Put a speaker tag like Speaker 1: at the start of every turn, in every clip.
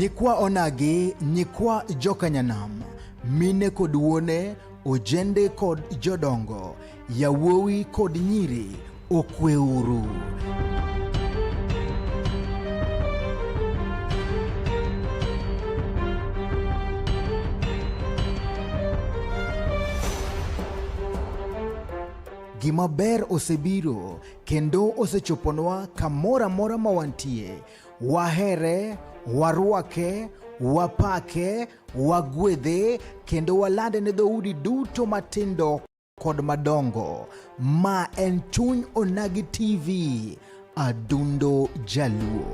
Speaker 1: nyikwa onagi nyikwa jokanyanam mine kod wuone ojende kod jodongo yawuowi kod nyiri okweuru gima ber osebiro kendo osechoponwa kamoro amora ma wantie. Wahere, warwake, wapake, wagwedhe, kendo walande ne dhoudi duto matindo kod madongo. Ma en Chuny Onagi TV, Adundo Jaluo.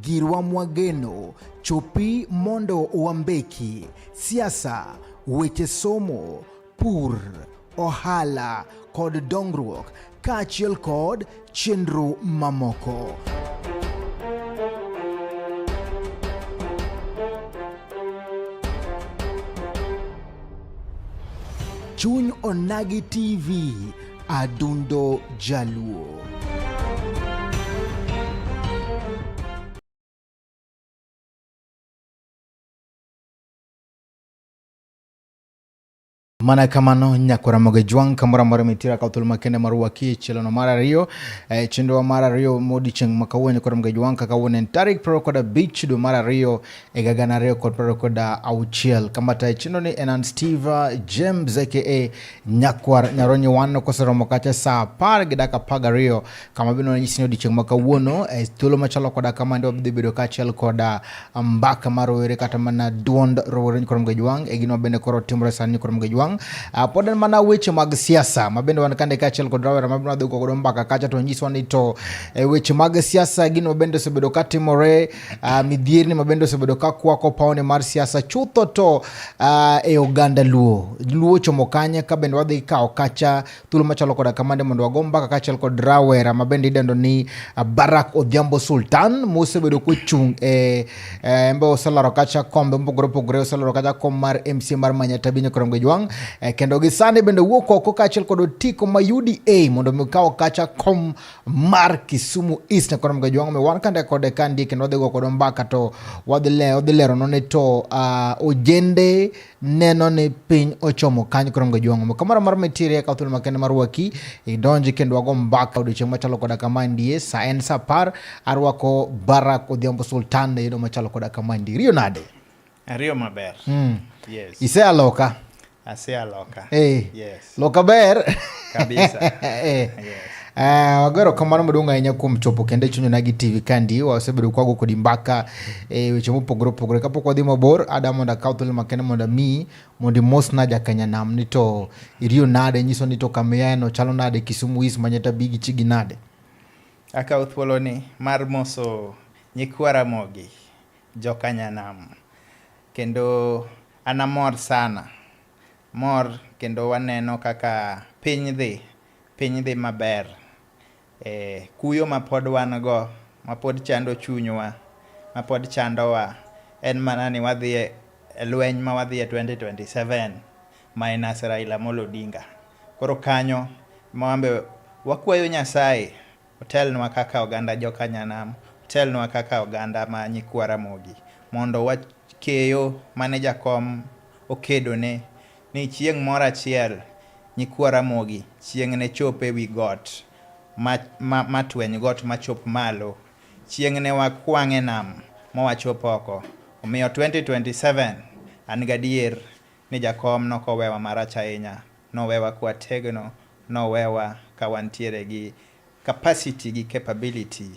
Speaker 1: Girwa Mwageno, chopi mondo wambeki, siasa, weche somo, pur, ohala kod dongruok kaachiel kod chenro mamoko. Chuny Onagi TV Adundo Jaluo. mana kamano nyakwara moge jwang kamora mora mitira ka thul makende mar waki chielo no mar ariyo e, chenro mar ariyo modi cheng makawuono kora moge jwang kaka wuonen tarik pro koda bich do mar ariyo higa gana ariyo kod piero ariyo kod auchiel kama tayo chenro ni en an Steve James aka Nyakwar Nyaronyi Wano koseromo kacha saa apar gi dakika apar gariyo kama bende nanyisi ni odiechieng' ma kawuono e thuolo machalo koda kama ndi wabidhi bedo kaachiel koda mbaka mar rowere kata mana duond rowere ni Koromgej Wang' e gino bende koro timore sani ni Koromgej Wang' ah, pod en mana weche mag siasa ma bende wan kande kaachiel kod rawera ma bende wadhi godo mbaka kacha to nyiswa ni to e weche mag siasa gino bende osebedo katimore uh, midhierni ma bende osebedo ka kwako pawne mar siasa chutho to uh, e oganda luo luo chomo kanye ka bende wadhi kawo kacha thuolo machalo koda kamande mondo wago mbaka kaachiel kod rawera ma bende idendo ni uh, barak odhiambo sultan mosebedo kochung' e uh, mbe oselaro kacha kombe mopogore opogore oselaro kacha kom mar mc mar manyata binyo koromge jwang' uh, eh, kendo gisani bende wuok oko kaachiel kod otiko ma uda mondo mi kawo kacha kom mar Kisumu East kono mgaji wangu mewan kande kode kandi kendo wadhi go kodo mbaka to wadhi le wadhi lero no ni to uh, ojende neno ni piny ochomo kanyo kono mgaji wangu kamara mar mitirie ka thulo makende mar waki idonji kendo wago mbaka odiochieng machalo koda kama ndie sa en sa par arwako Barack Odhiambo Sultan yudo machalo koda kama ndie riyo nade Ariyo
Speaker 2: maber. Mm. Yes. Ise aloka.
Speaker 1: Ase aloka.
Speaker 2: Hey. Eh. Yes. Loka
Speaker 1: ber. Kabisa.
Speaker 2: hey.
Speaker 1: Eh. Yes. Uh, ah, wagero kamano maduong' ahinya kuom chopo kendo e chunyona gi tv kandi wasebedo kwago kodi mbaka e weche mopogore opogore kapok wadhi mabor ada mondo akaw thuolo makende mondo mi mondo imosna jakanya nam ni to iriyo nade nyiso ni to kamiyaeno chalo nade kisumu is manyata bigi chigi nade akaw
Speaker 2: thuoloni mar moso nyikwara mogi Jokanyanam. Kendo an amor sana. Mor kendo waneno kaka piny dhi, piny dhi maber. Eh, kuyo ma pod wan go, ma pod chando chunywa, ma pod chandowa, en mana ni wadhi e e lweny ma wadhi e 2027 minus Raila Amolo Odinga. Koro kanyo ma wambe wakwayo Nyasaye Otelnwa kaka oganda joka Nyanam, otelnwa kaka oganda ma nyikwa Ramogi mondo wa keyo mane jakom okedone ni chieng' moro achiel nyikwa Ramogi chieng' ne chop e wi got ma, ma, ma tweny got ma chop malo. Chieng' ne wakwang' e nam ma wachop oko. Omiyo 2027 an gadier ni jakom nokowewa marach ahinya. Nowewa kwa tegno, nowewa ka wantiere gi capacity gi capability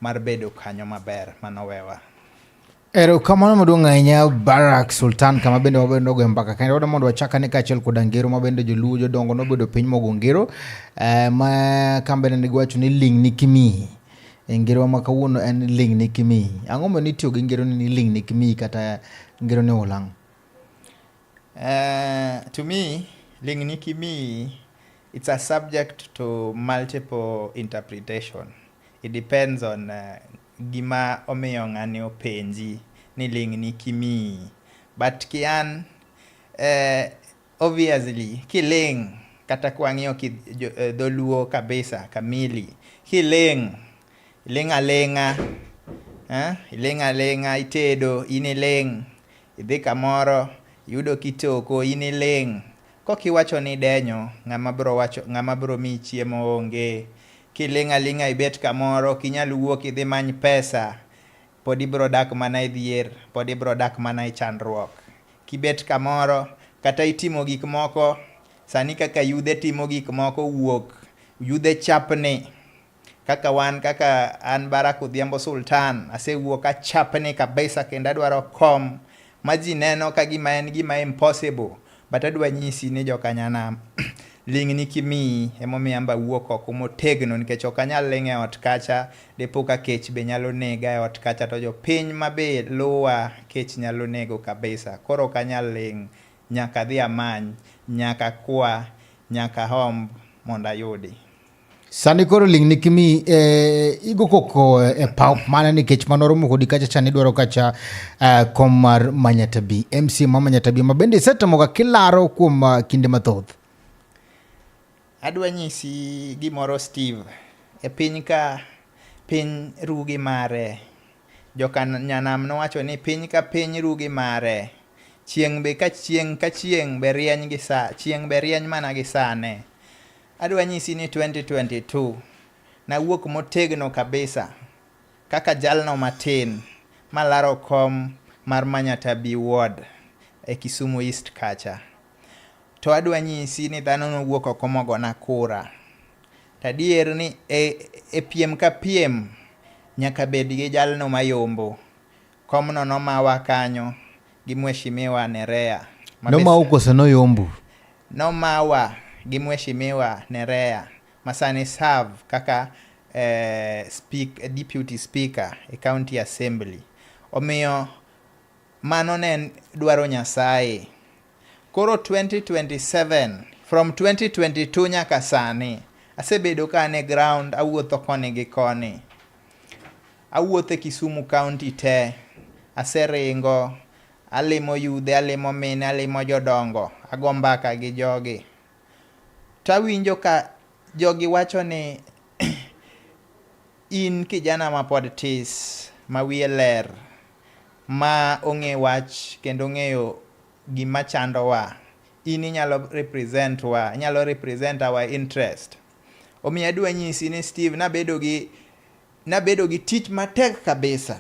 Speaker 2: mar bedo kanyo maber ma nowewa.
Speaker 1: Erokamano maduong' ahinya Barak Sultan kama bende wabedo nogoyo mbaka kendo wadwa mondo wachak ane kaachiel koda ngero ma bende joluo jodongo nobedo piny mogo ngero eh, ma kama bende ne giwacho ni ling' ni kimi e ngerowa ma kawuono en ling' ni kimi ang'o momiyo nitiyo gi ngeroni ni ling' ni kimi kata ngeroni olang' Uh,
Speaker 2: to
Speaker 1: me,
Speaker 2: Linginikimi, it's a subject to multiple interpretation. It depends on uh, gima omiyo ng'ani openji ni Linginikimi. But kian, uh, obviously, kiling kata kwang'iyo ki, jo, uh, dholuo kabisa kamili kiling iling aling'a eh? iling aling'a itedo in iling Idhi kamoro iyudo kitoko in iling'. Kok iwacho ni idenyo ng'ama biro wacho ng'ama biro miyi chiemo onge. Kiling' aling'a ibet kamoro ok inyal wuok idhi many pesa pod ibiro dak mana e dhier, pod ibiro dak mana e chandruok. Kibet kamoro kata itimo gik moko sani kaka yudhe timo gik moko wuok yudhe chapni kaka wan kaka an Barak Odhiambo Sultan asewuok achapni kabisa kendo adwaro kom ma ji neno ka gima en gima impossible but adwa nyisi ni jokanyanam ling'ni kimiyi emomiyo amba wuok oko motegno nikech ok anyal ling' e ot kacha dipo ka kech be nyalo nega e ot kacha to jopiny ma be luwa kech nyalo nego kabisa koro ok anyal ling' nyaka dhi amany nyaka kwa nyaka homb mondo ayudi Sani
Speaker 1: koro ling ni kimi eh, igo koko eh, e pau mana nikech mano romo kodi kacha cha nidwaro kacha eh, kom mar Manyatabi MC ma Manyatabi ma bende isetamoga kilaro kuom uh, kinde mathoth.
Speaker 2: Adwa nyisi gimoro Steve. E piny ka piny rugi mare. Joka nyanam nowacho ni piny ka piny rugi mare. Chieng' be ka chieng' ka chieng' be rieny gi sa, chieng' be rieny mana gi sane. Adwa nyisi ni 2022 nawuok motegno kabisa kaka jalno matin malaro kom mar Manyata B Ward e Kisumu East kacha. To adwa nyisi ni dhano nowuok oko mogona kura. Tadier ni e, e piem ka piem nyaka bed gi jalno mayombo Komno nomawa kanyo gi Mheshimiwa Nerea. Nomau kose
Speaker 1: noyombu? Nomawa
Speaker 2: gi Mheshimiwa Nerea masani serve kaka eh, speak, deputy speaker e county assembly. Omiyo mano ne dwaro Nyasaye. Koro 2027 from 2022 nyaka sani asebedo ka an e ground awuotho koni gi koni Awuotho e Kisumu county te, aseringo, alimo yudhe, alimo mine, alimo jodongo, ago mbaka gi jogi. To awinjo ka jogi wacho ni in kijana mapod tis, ma wiye ler, ma ong'e wach kendo ong'eyo gima chandowa, in inyalo represent wa, inyalo represent our interest. Omiyo adwa nyisi ni Steve, nabedo gi nabedo gi tich matek kabisa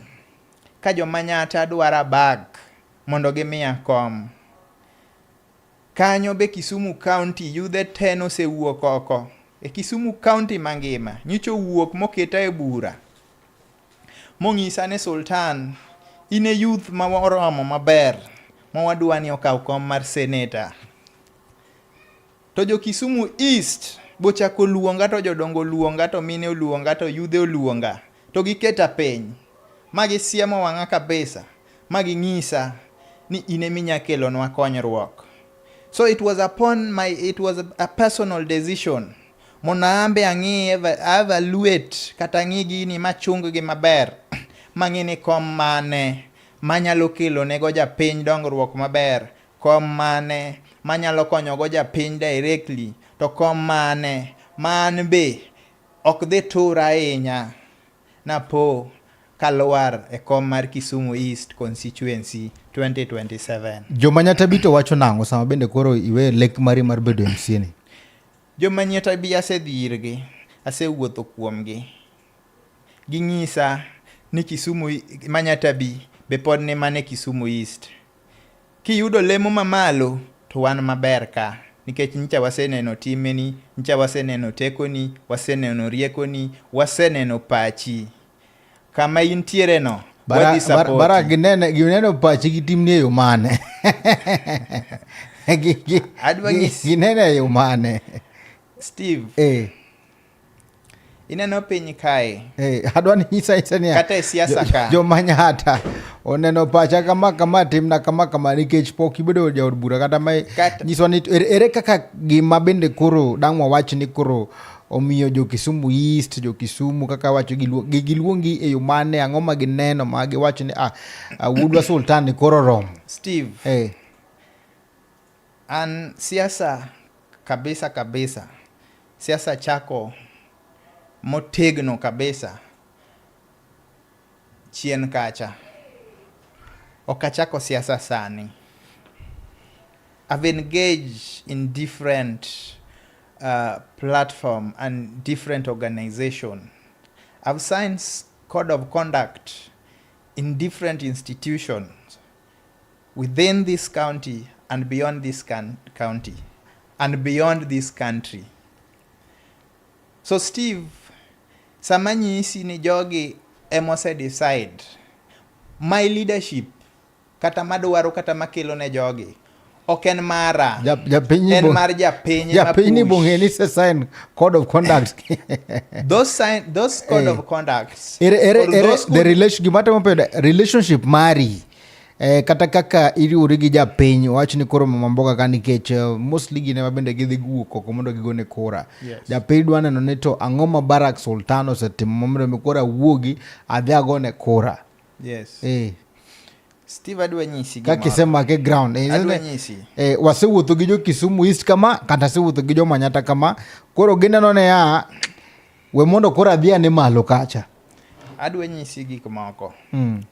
Speaker 2: ka jomanyata dwara bag mondo gimiya kom. Kanyo be Kisumu County yudhe te nosewuok oko e Kisumu County mangima nyicho wuok moketa e bura mong'isa ni Sultan in e youth ma oromo maber ma wadwa ni okaw kom mar senator. To jo Kisumu East bochako luonga to jodongo luonga to mine oluonga to yudhe oluonga to giketa piny ma gisiemo wang'a kabisa ma ging'isa ni in ema inya kelonwa konyruok. So it was upon my it was a personal decision mondo ambe ang'i evaluate kata ang'i gini machung gi maber mang'e ni kom mane manyalo kelo nego japiny dongruok maber Kom mane manyalo konyogo japiny directly to kom mane ma an be ok dhi tura ahinya napo kalwar e kom mar Kisumu East Constituency 2027. Joma Nyatabito
Speaker 1: wacho nang'o sama bende koro iwe lek mari mar bedo MCA ni? Joma Nyatabi
Speaker 2: asedhi irgi, asewuotho kuomgi. Ginyisa ni Kisumu ma Nyatabi be pod ni mana e Kisumu East. Kiyudo lemo mamalo to wan maber ka nikech nyicha waseneno timeni, nyicha waseneno tekoni, waseneno riekoni, waseneno pachi. Kama intiere no, bara, wadhi support. Bara, bara ginene, gineno
Speaker 1: pachi gi timni e yo mane? ginene e yo mane?
Speaker 2: Steve.
Speaker 1: Eh.
Speaker 2: Ineno piny kae. Hey, eh, adwa ni nyisa
Speaker 1: nyisa niya. Kata e siasa ka. Jo
Speaker 2: manyata.
Speaker 1: Oneno pacha kama kama timna kama kama nikech pok ibedo jaod bura kata ma nyiswa ni er, ere kaka gima bende koro dang' wawach ni koro omiyo jo Kisumu East, jo Kisumu kaka wacho giluongi e yo mane, ang'o ma gineno ma giwacho ni ah, ah Wuodwa Sultan koro rom. Steve. Hey. Eh.
Speaker 2: An siasa kabisa kabisa, siasa chako motegno kabisa chien kacha. Ok achako siasa sani. I've engaged in different uh, platform and different organization. I've signed code of conduct in different institutions. within this county and beyond this county and beyond this country. So Steve, sama nyisi ni jogi emose decide my leadership kata madwaro kata makelo ne jogi ok en mara en mar japiny japiny bong'e ni se sign
Speaker 1: code of conduct those sign
Speaker 2: those code hey. of conduct ere ere ere the
Speaker 1: relation gima temo peda relationship mari Eh, kata kaka iriwori gi japiny wach ni koro mama mboga ka nikech eh, mostly gine ma bende gidhi guwuok oko mondo gigone kura yes. japiny dwa neno ni to ang'o ma barak sultan osetimo momiyo mi koro awuogi adhi agone kura yes eh
Speaker 2: steve adwa nyisi gimoro. kakisema ke ground eh,
Speaker 1: adwa isn't it? nyisi
Speaker 2: eh, wasewuotho gi jo
Speaker 1: kisumu east kama kata asewuotho gi jo manyata kama koro gineno ne ya we mondo koro adhi ane malo kacha adwa nyisi
Speaker 2: gik moko mm.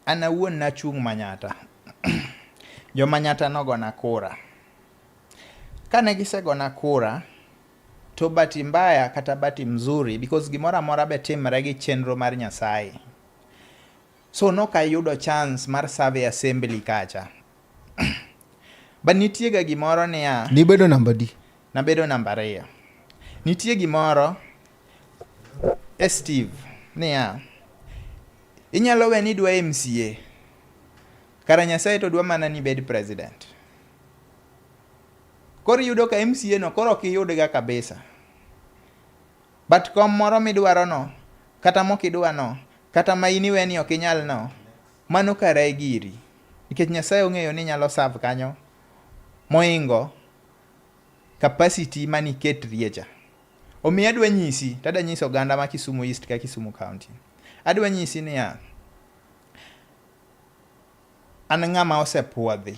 Speaker 2: an awuon nachung' manyata jo manyata nogona kura kane gisegona kura To bati mbaya kata bati mzuri because gimoro amora be timre gi chenro mar Nyasaye. So noka ayudo chance mar serve assembly kacha. But nitie ga gimoro niya. Nibedo namba di?
Speaker 1: Nabedo namba ariyo.
Speaker 2: Nitie gimoro e Steve niya. Inyalo we ni dwa MCA. Kara Nyasaye to dwa mana ni bed president. Koro iyudo ka MCA no koro ok iyudga kabisa. But kom moro midwaro no, kata mok idwa no, kata ma in iwe ni ok inyal no, mano kare giri. Nikech Nyasaye ong'eyo ni inyalo serve kanyo moingo capacity mani ketrie cha. Omiyo adwa nyisi, tada nyiso oganda ma Kisumu East ka Kisumu County. Adwa nyisi niya, an ng'ama osepuodhi.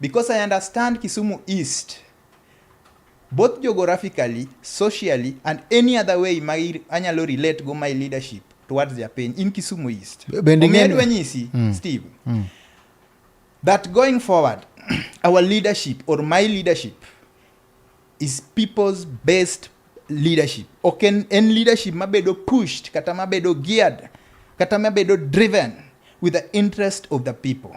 Speaker 2: Because I understand Kisumu East both geographically, socially and any other way ma anyalo relate go my leadership towards their pain in Kisumu East. Omiedwe nyisi mm. Steve mm. that going forward our leadership or my leadership is people's best leadership ok en, en leadership mabedo pushed kata mabedo geared kata mabedo driven with the interest of the people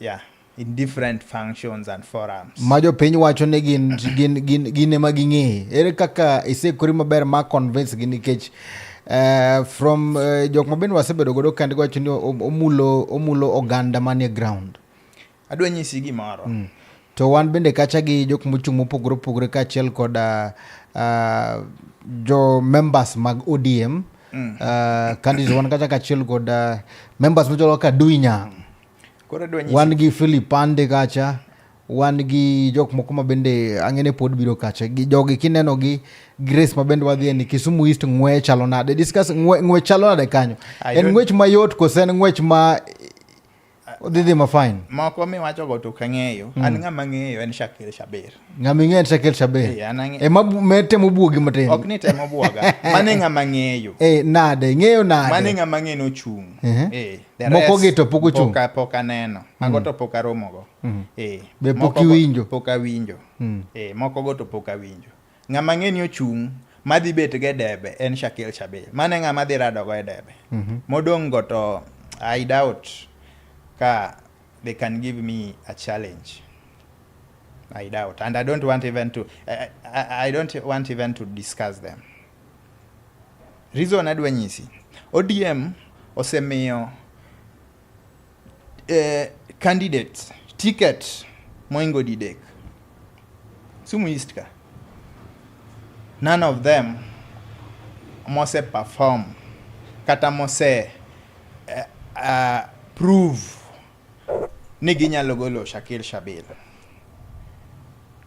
Speaker 2: Yeah, in different functions and forums. Ma jopiny wacho ni
Speaker 1: gin gin gin gin ema ging'eye. Ere kaka isekori maber ma convince gi nikech Uh, from uh, eh, jok mabende wasebedo godo kend wacho ni omulo omulo oganda manie ground adwa nyisi
Speaker 2: gimoro mm. To wan
Speaker 1: bende kacha gi jok mochung' mopogore opogore kaachiel kod uh, uh, jo members mag ODM mm. uh, candidates wan kacha kaachiel kod uh, members machalo kaka Duinyang. Wan gi Philip Pande kacha wan gi jok moko ma bende ang'ene pod biro kacha gi jogi kineno gi Grace ma bende wadhi ni Kisumu East ng'we chalo nade discuss ng'we, ng'we chalo nade kanyo en ng'wech mayot kose en ng'wech ma Odidhi ma fine. Moko miwacho go to
Speaker 2: kang'eyo. Mm. An hmm. ng'ama ng'eyo en Shakir Shabir. Ng'ama ng'eyo en Shakir
Speaker 1: Shabir. Yeah, anang'e. E ma me temo buogi matin. Ok ni temo buoga.
Speaker 2: Mane ng'ama ng'eyo. Eh nade ng'eyo
Speaker 1: nade. Mane ng'ama ng'eyo no chung.
Speaker 2: Uh -huh. Eh. eh moko
Speaker 1: gi to pok ochung. Poka poka neno.
Speaker 2: Mago mm. to poka romo go. Mm. Eh. Be pok
Speaker 1: iwinjo. Poka winjo.
Speaker 2: Mm. Eh moko go to poka winjo. Ng'ama ang'e ni ochung' madhi bet go e debe en Shakil Shabil. Mano e ng'ama dhi rado go e debe. Mm -hmm. Modong' go to I doubt ka they can give me a challenge. I doubt. And I don't want even to I, I, I don't want even to discuss them. Reason adwa nyisi. ODM osemiyo eh, candidates ticket moingo didek Sumu East ka none of them mose perform kata mose uh, uh, prove ni ginyalo golo Shakil Shabil.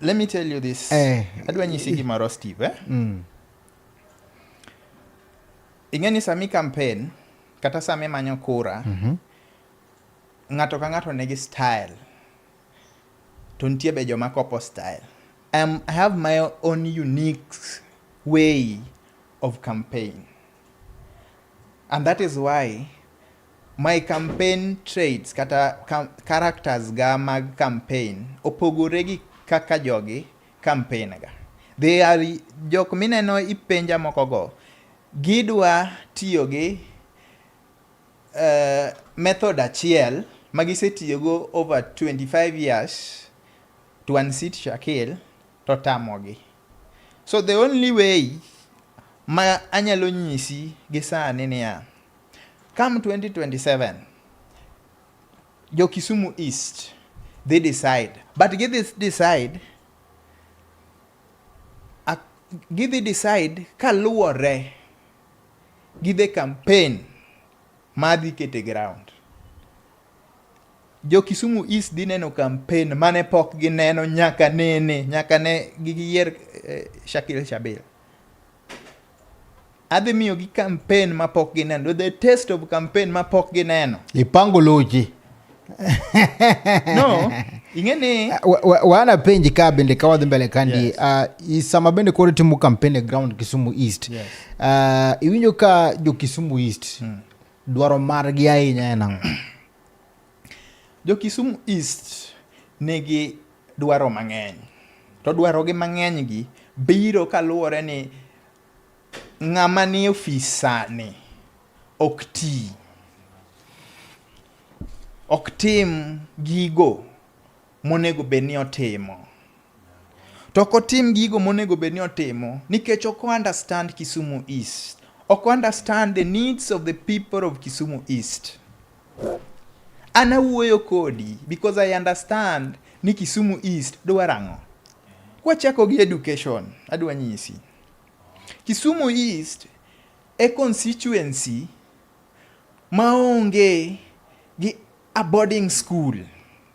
Speaker 2: Let me tell you this. Eh. Adwa nyisi gimoro Steve. Eh? Mm. Ing'e ni sami campaign kata sami manyo kura mm -hmm. ng'ato ka ng'ato nigi style to nitie be joma kopo style. Um, I have my own unique way of campaign and that is why My campaign traits kata characters ga mag campaign opogore gi kaka jogi campaign ga. They are jok mineno ipenja moko go gidwa tiyo gi uh, method achiel ma gisetiyogo over 25 years to unseat Shakil to tamogi. So the only way ma anyalo nyisi gi sani niya, Come 2027, jo Kisumu East dhi decide but gidhi decide a- gidhi decide kaluwore gi the campaign ma dhi kete ground. Jo Kisumu East dhi neno campaign mane pok gineno nyaka nene nyaka ne giyier eh, Shakil Shabir. adhi miyogi kampen ma pok gineno the test of kampen ma pok gineno ipango loji
Speaker 1: no
Speaker 2: ing'e ni wana
Speaker 1: penji ka bende ka wadhi mbele kandi yes. uh, sama bende koro timo kampen e ground kisumu east yes.
Speaker 2: uh, iwinjo
Speaker 1: ka jo kisumu east mm. dwaro margi ahinya en ang'o
Speaker 2: Jo Kisumu East nigi dwaro mang'eny. To dwaro gi mang'eny gi biro kaluwore ni ng'ama ni ofis sani ok ti. Ok tim gigo monego bed ni otimo. To ok otim gigo monego bed ni otimo nikech ok understand Kisumu East. Ok understand the needs of the people of Kisumu East. An awuoyo kodi because I understand ni Kisumu East dwaro ang'o. Kwachako gi education, adwa nyisi. Kisumu East e constituency maonge gi a boarding school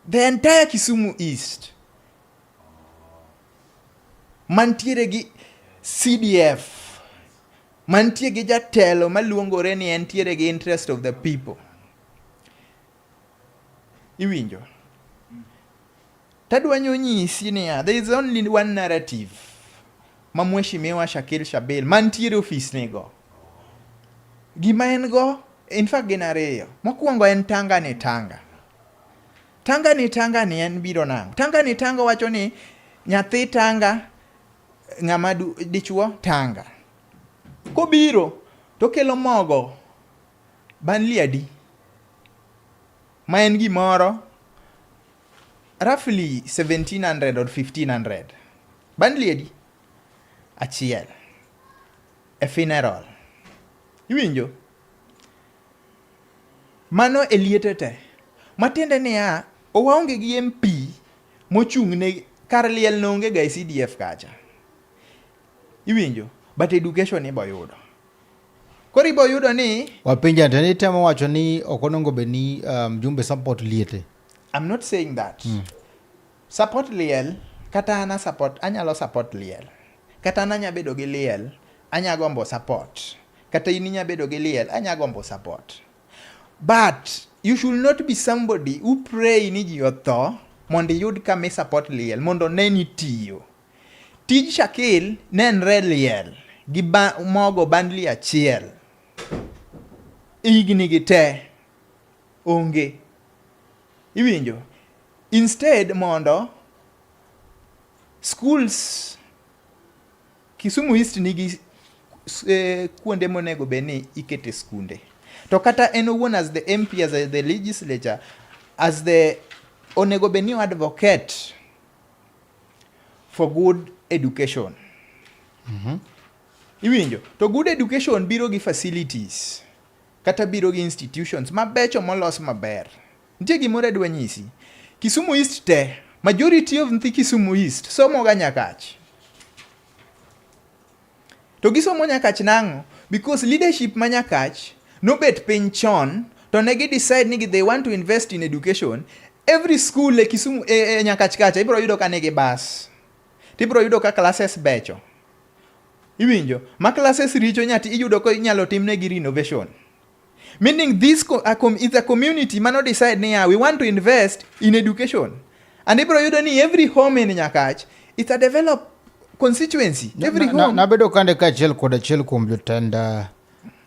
Speaker 2: the entire Kisumu East mantiere gi CDF mantie gi jatelo maluongore ni entiere gi interest of the people iwinjo Tadwanyo nyisi niya, there is only one narrative ma Mheshimiwa Shakil Shabil mantiere ofis nigo. Gima en go, in fact gin ariyo. Mokwongo en tanga ni tanga. Tanga ni tanga ni en biro nang'. Tanga ni tanga wacho ni nyathi tanga ng'ama dichuo tanga. Kobiro to kelo mogo banliadi ma en gimoro Roughly 1700 or 1500. Bundle edi achiel e funeral. Iwinjo? Mano e liete te. Matiende niya, owaonge gi MP mochung' ne kar liel ne onge ga e CDF kacha. Iwinjo? But education ibo yudo. Koro ibo yudo ni wapenja to ni temo
Speaker 1: wacho ni ok onongo be ni um, jumbe support liete. I'm not saying
Speaker 2: that. Mm. Support liel kata ana support anyalo support liel. Kata ana anya bedo gi liel anya gombo support. Kata in inya bedo gi liel anya gombo support. But you should not be somebody who pray ni ji otho mondo iyud kama i support liel mondo ne ni tiyo. Tij Shakil nenre liel gi ba, mogo bandli achiel higni gi te onge Iwinjo? Instead mondo schools Kisumu East nigi eh, kuonde monego bed ni ikete skunde. To kata en owuon as the MP as the legislature as the onego bed ni advocate for good education. Mm -hmm. Iwinjo? To good education biro gi facilities. Kata biro gi institutions mabecho molos maber. Nitie gimoro adwa nyisi. Kisumu East te, majority of nthi Kisumu East somo ga Nyakach. To gisomo Nyakach nang'o? Because leadership ma Nyakach nobet piny chon to ne gi decide ni they want to invest in education every school e Kisumu e, e Nyakach kacha ibro yudo ka nigi bus. Tibro yudo ka classes becho. Iwinjo? Ma classes richo nyati iyudo ko inyalo timnegi renovation. Meaning this co- a com- is a community mano decide niya we want to invest in education. And ibro yudo ni every home in Nyakach it's a developed constituency. Every Na- na- home. nabedo kande kaachiel
Speaker 1: kod achiel kuom jotend ah,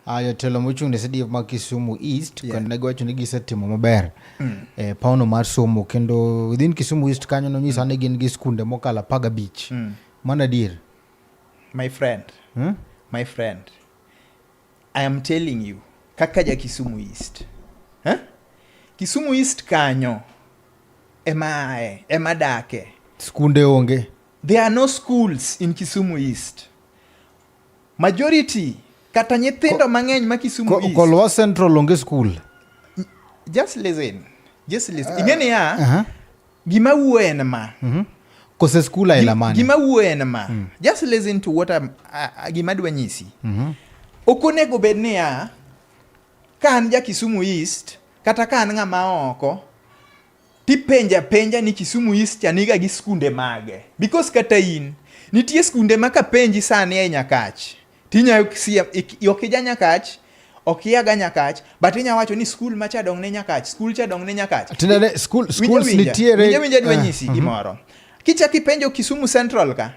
Speaker 1: ah, jotelo mochung' ne CDF ma Kisumu East Yeah. kendo negiwacho ni gisetimo maber e pauno mar somo kendo within Kisumu East kanyo nonyisa ni gin gi skunde mokalo apar gabich mano adier My
Speaker 2: friend. Hmm? My friend. I am telling you kaka ja Kisumu East. Huh? Kisumu East kanyo ema ae, ema dake. Skunde onge.
Speaker 1: There are no
Speaker 2: schools in Kisumu East. Majority kata nyithindo mang'eny ma Kisumu ko, East. Kolwa Central onge
Speaker 1: school.
Speaker 2: Just listen. Just listen. Uh, Ing'e niya. Uh -huh. Gima wuo en ma. Mm -hmm. Kose skul
Speaker 1: aila mane? Gima wuo en ma. Mm.
Speaker 2: Just listen to what I'm, uh, gima dwa nyisi. Mm -hmm. Ok onego bed niya ka an ja Kisumu East kata ka an ng'ama oko tipenja penja ni Kisumu East chaniga gi skunde mage because kata in nitie skunde ma kapenji sani e Nyakach Tinya ok sia ok ija nyakach ok iaga nyakach but inya wacho ni skul macha dong ne nyakach skul cha dong ne nyakach tinane skul skul
Speaker 1: nitiere winja winja dwa eh, nyisi mhm.
Speaker 2: gimoro kicha kipenjo Kisumu Central ka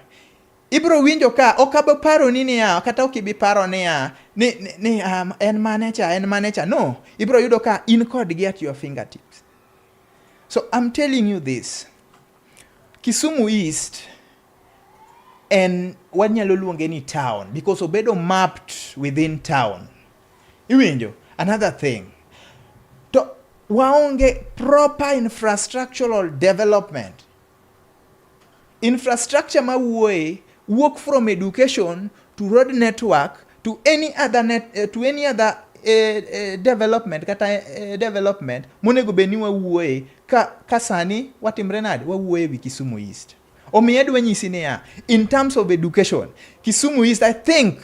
Speaker 2: ibro winjo ka ok abo paro ni niya kata ok ibi paro niya ni, ni, ni um, en mane cha en mane cha no ibro yudo ka in kod gi at your fingertips so I'm telling you this Kisumu East en wanyalo luonge ni town because obedo mapped within town iwinjo another thing to waonge proper infrastructural development infrastructure ma wuoye wuok from education to road network to any other net, uh, to any other uh, uh, development kata uh, development monego bed ni wawuoye ka, ka sani watimre nade wawuoye wi Kisumu East Omiyo adwa nyisi niya, in terms of education, Kisumu East I think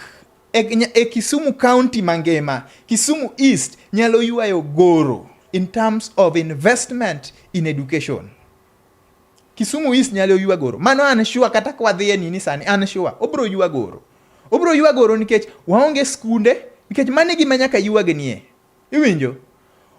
Speaker 2: e, e Kisumu County mangima, Kisumu East nyalo yuayo goro in terms of investment in education. Kisumu East nyalo ywa goro. Mano an sure kata kwa dhi e nini sani an sure obro ywa goro. Obro ywa goro nikech waonge skunde nikech mane gima nyaka ywagnie. Iwinjo?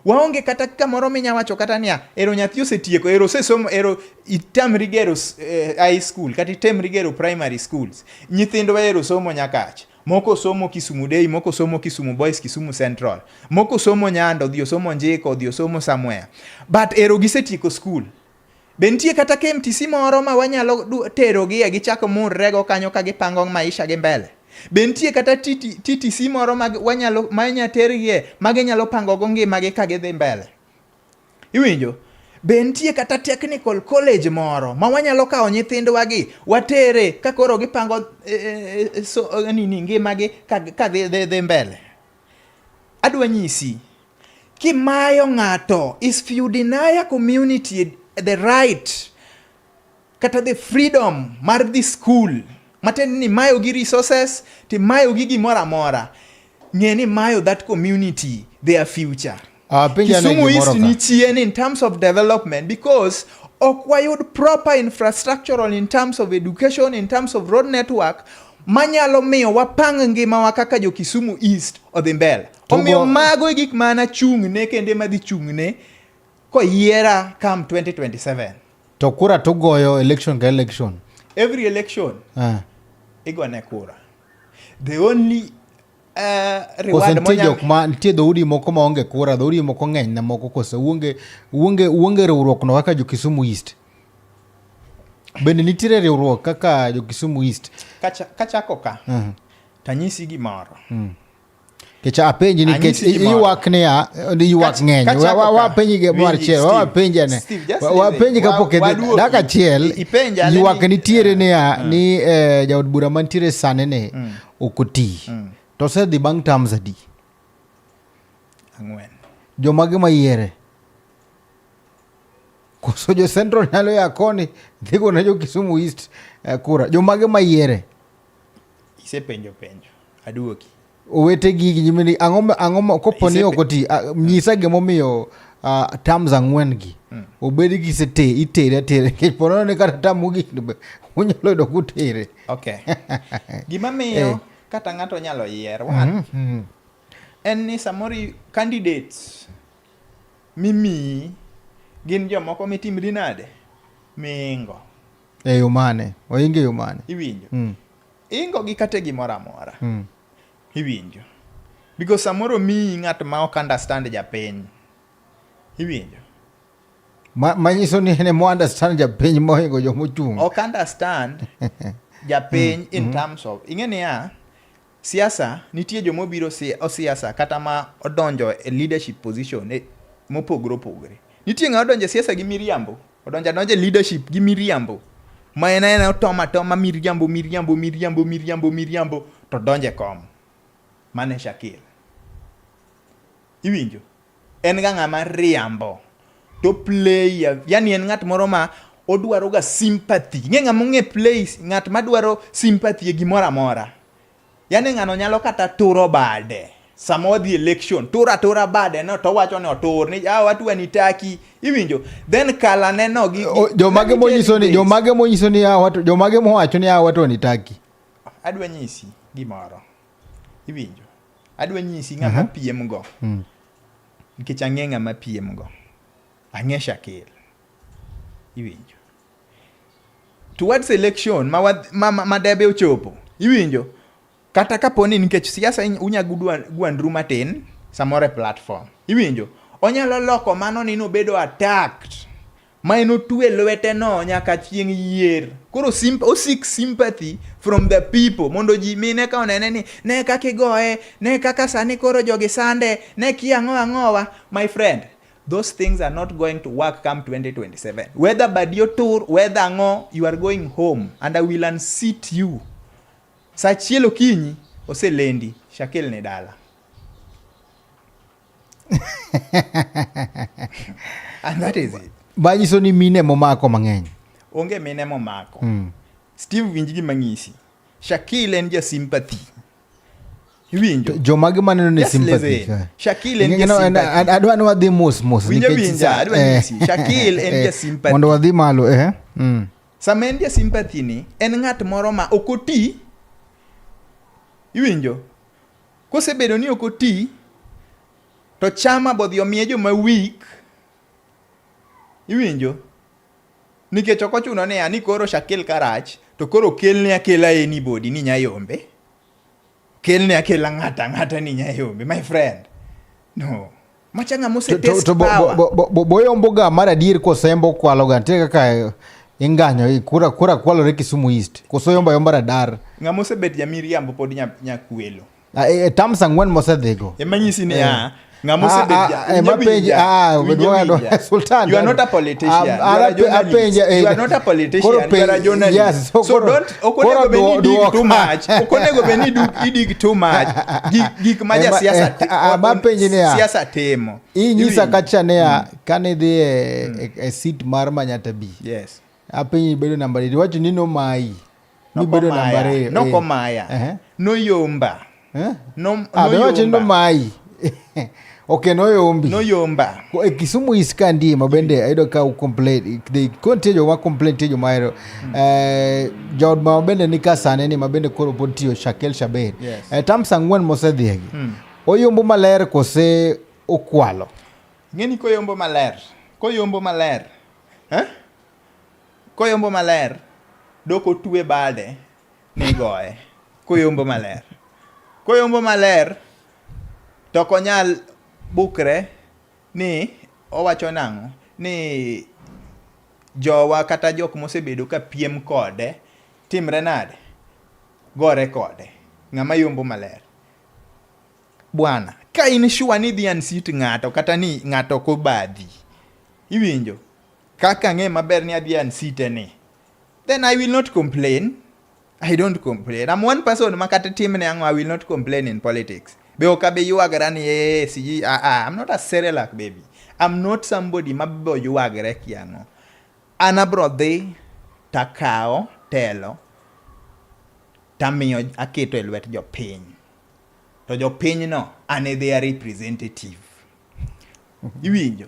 Speaker 2: Waonge kata kamoro minya wacho kata niya, ero nyathi osetieko, ero osesomo, ero itamri gero eh, high school kata itemri gero primary schools. Nyithindwa ero somo nyakach. Moko somo Kisumu Day, moko somo Kisumu Boys, Kisumu Central. Moko somo Nyando, odhi osomo Njiko, odhi osomo somewhere. But ero gisetieko school. Be nitie kata KMTC moro ma wanyalo terogie gichak murrego kanyo ka gipango maisha gi mbele? Be nitie kata TTC moro ma wanyalo ma inya tergie ma ginyalo pango go ngimagi ka gidhi mbele? Iwinjo? Be nitie kata technical college moro ma wanyalo kawo nyithindwagi watere ka koro gipango e, e, e, so, nini ngimagi ka dhi mbele? Adwa nyisi kimayo ng'ato is you deny a community the right kata the freedom mar the school matiende ni mayo gi resources timayo gi gimoro amora ng'e ni mayo that community their future Ah, Kisumu East ni chien in terms of development because ok wayud proper infrastructural in terms of education, in terms of road network manyalo miyo wapang ngimawa kaka jo Kisumu East odhi mbele. Omiyo mago e gik ma anachung'ne kendo ema dhi chung'ne koyiera come 2027. To kura
Speaker 1: tugoyo election ka election. Every election.
Speaker 2: Uh. Igone kura. The only Koso nitie jok ma
Speaker 1: nitie dhoudi moko ma onge kura, dhoudi moko ng'eny na moko koso uonge uonge uonge riwruok no kaka jo Kisumu East. Bende nitiere riwruok kaka jo Kisumu East. Kacha kachako ka. Uh
Speaker 2: -huh. Tanyisi gimoro. Uh -huh.
Speaker 1: Kecha apenji ni kech iwak ni ya iwak ng'eny. Wa penji ge mar chiel, wa penji ne. Wa penji ka poke daka chiel. Iwak nitiere ni ya ni eh, jaod bura mantiere sane ne. Mm. ok oti mm. to osedhi bang' terms adi ang'wen
Speaker 2: jomage mayiere
Speaker 1: koso jo central nyalo ya koni dhigo ne jo kisumu east eh, kura jomage mayiere
Speaker 2: isepenjo penjo aduoki owete
Speaker 1: gigi nyimini ang'o kopo ni ok oti nyisa gimomiyo uh, terms ang'wen gi mm. obed gi sete itere atere nikech ponono ni kata tam mogik unyalo yudo kutere Okay.
Speaker 2: Gima miyo eh. kata ng'ato nyalo yier one mm -hmm. en ni samoro candidates mimiyi gin jomoko mitimri nade mingo e yo
Speaker 1: mane oingo e yo mane iwinjo mm.
Speaker 2: ingo gi kate gimoro amora mm. iwinjo because samoro miyi ng'at ma ok understand japiny iwinjo
Speaker 1: manyiso ni ne understand japiny mohingo joma ochung' ok understand
Speaker 2: japiny mm, in mm. terms of ing'e niya siasa nitie joma obiro siasa kata ma odonjo e leadership position e, mopogore opogore nitie ng'a odonjo e siasa gi miriambo odonjo adonjo e leadership gi miriambo ma en aena otoma toma miriambo miriambo miriambo miriambo miriambo to donjo e kom mane shakir Iwinjo? En ga ng'ama riambo to play yani en ng'at moro ma odwaro ga sympathy. Ing'e ng'ama ong'e play ng'at ma dwaro sympathy e gimoro amora. Yani ng'ano nyalo kata turo bade sama wadhi election turo atura bade no to wacho ni otur ni ah watu wanitaki iwinjo then kala neno gi jomage monyiso ni
Speaker 1: jomage monyiso ni ah watu jomage mowacho ni ah watu wanitaki adwa nyisi
Speaker 2: gimoro Iwinjo? Adwa nyisi ng'ama uh -huh. piem go. Mm. Nikech ang'e ng'ama piem go. Ang'e Shakil. Iwinjo? Towards election ma, ma, ma, ma debe ochopo. Iwinjo? Kata kapo ni nikech siasa unya gwandru matin samoro e platform. Iwinjo? Onyalo loko mano ni nobedo attacked ma enotwe lweteno nyaka chieng' yier. Koro simp, osik sympathy from the people mondo ji mine ka onene ni ne kaka igoye, ne kaka sani koro jogi sande, ne kia ang'o ang'owa. My friend, those things are not going to work come 2027. Whether badi otur, whether ang'o, you are going home and I will unseat you. Saa achiel okinyi oselendi, shakelne dala. and that is it manyiso ni mine
Speaker 1: momako mang'eny onge mine
Speaker 2: momako mm. steve winj gi mang'isi shakil en ja sympathy iwinjo jomage maneno
Speaker 1: ni sympathy shakil en ja
Speaker 2: sympathy adwa ni wadhi mos
Speaker 1: mos winjo winjo adwa ni eh. shakil en ja
Speaker 2: sympathy mondo wadhi malo eh
Speaker 1: mm. sama en
Speaker 2: ja sympathy ni en ng'at moro ma ok oti iwinjo Kosebedo ni ok oti to chama bodhi omiye joma weak iwinjo nikech ok ochuno ni ani koro shakel karach to koro kelne akela anybody ni nyayombe kelne akela ng'ata ng'ata ni nyayombe my friend no machanga mose test power bo bo bo boyo mboga
Speaker 1: mara dir ko sembo kwalo ga tega ka inganyo ikura kura kwalo re kisumu east ko so yomba yomba radar nga mose bet ya
Speaker 2: miriambo pod nya nya kwelo a e, e tam
Speaker 1: sangwen mose dhego e manyisi ni eh. a
Speaker 2: nga mose ah, bet ah, ya e ma penje a ah, we do
Speaker 1: ando sultan you are not a politician
Speaker 2: you are a journalist you are not a politician you are a journalist so don't
Speaker 1: ok onego
Speaker 2: bed ni dig too much ok onego bed ni idig too much gik ma ja siasa eh, ah, ah, ma penji ni siasa timo inyisa kacha
Speaker 1: ne ya mm. kane dhi e, mm. e, e sit mar manyata bi yes
Speaker 2: apenyi bedo namba
Speaker 1: 8 wacho ni no mai ni bedo namba 2 no komaya eh.
Speaker 2: no yomba eh? no, ah, no wache no
Speaker 1: mai ok noyombi noyomba e
Speaker 2: kisumu is ka
Speaker 1: ndie ma bende ayudo ka ucomplain they kontie joma complain tie joma hero mm. eh, jaod ma bende ni ka sane ni ma bende koro pod tiyo shakel shaber yes. eh, tams ang'wen
Speaker 2: mosedhiegi
Speaker 1: mm. oyombo maler kose okwalo ng'eni
Speaker 2: koyombo maler koyombo maler eh? koyombo maler dok otwe bade nigoye koyombo maler koyombo maler to ok onyal bukre ni owacho nang'o ni jowa kata jok mosebedo ka piem kode timre nade gore kode ng'ama yombo maler bwana ka in sure ni dhi ansit ng'ato kata ni ng'ato ok obadhi iwinjo kaka ang'e maber ni adhi ansite ni Then I will not complain. I don't complain. I'm one person ma kata timne ang'o I will not complain in politics. Be ok abe yuagre ni ee siji ah ah I'm not a Cerelac baby. I'm not somebody ma bo yuagre ki ang'o. An abro dhi takawo telo tamiyo aketo e lwet jopiny to jopinyno an e their representative iwinjo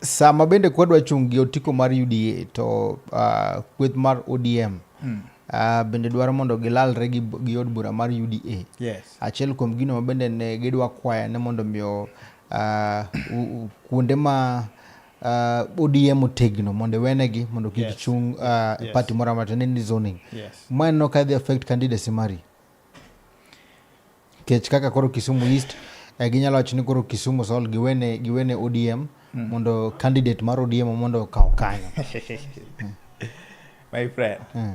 Speaker 2: Sama
Speaker 1: bende kwadwa chung' gi otiko mar UDA to uh, kweth mar ODM mm. Uh, bende dwaro mondo gilalre gi, gi od bura mar UDA. Yes. Achiel kuom
Speaker 2: gino ma
Speaker 1: bende ne gidwa kwaya ne mondo miyo uh, kuonde ma uh, ODM otegno mondo iwenegi mondo kik yes. chung uh, yes. party moro amata ne ni zoning yes. ma en no ka
Speaker 2: dhi affect
Speaker 1: candidacy mari Kech kaka koro Kisumu East eh, ginyalo wacho ni koro Kisumu Sol giwene giwene ODM mm. mondo candidate mar ODM mondo
Speaker 2: okaw
Speaker 1: kanyo. My friend. Mm.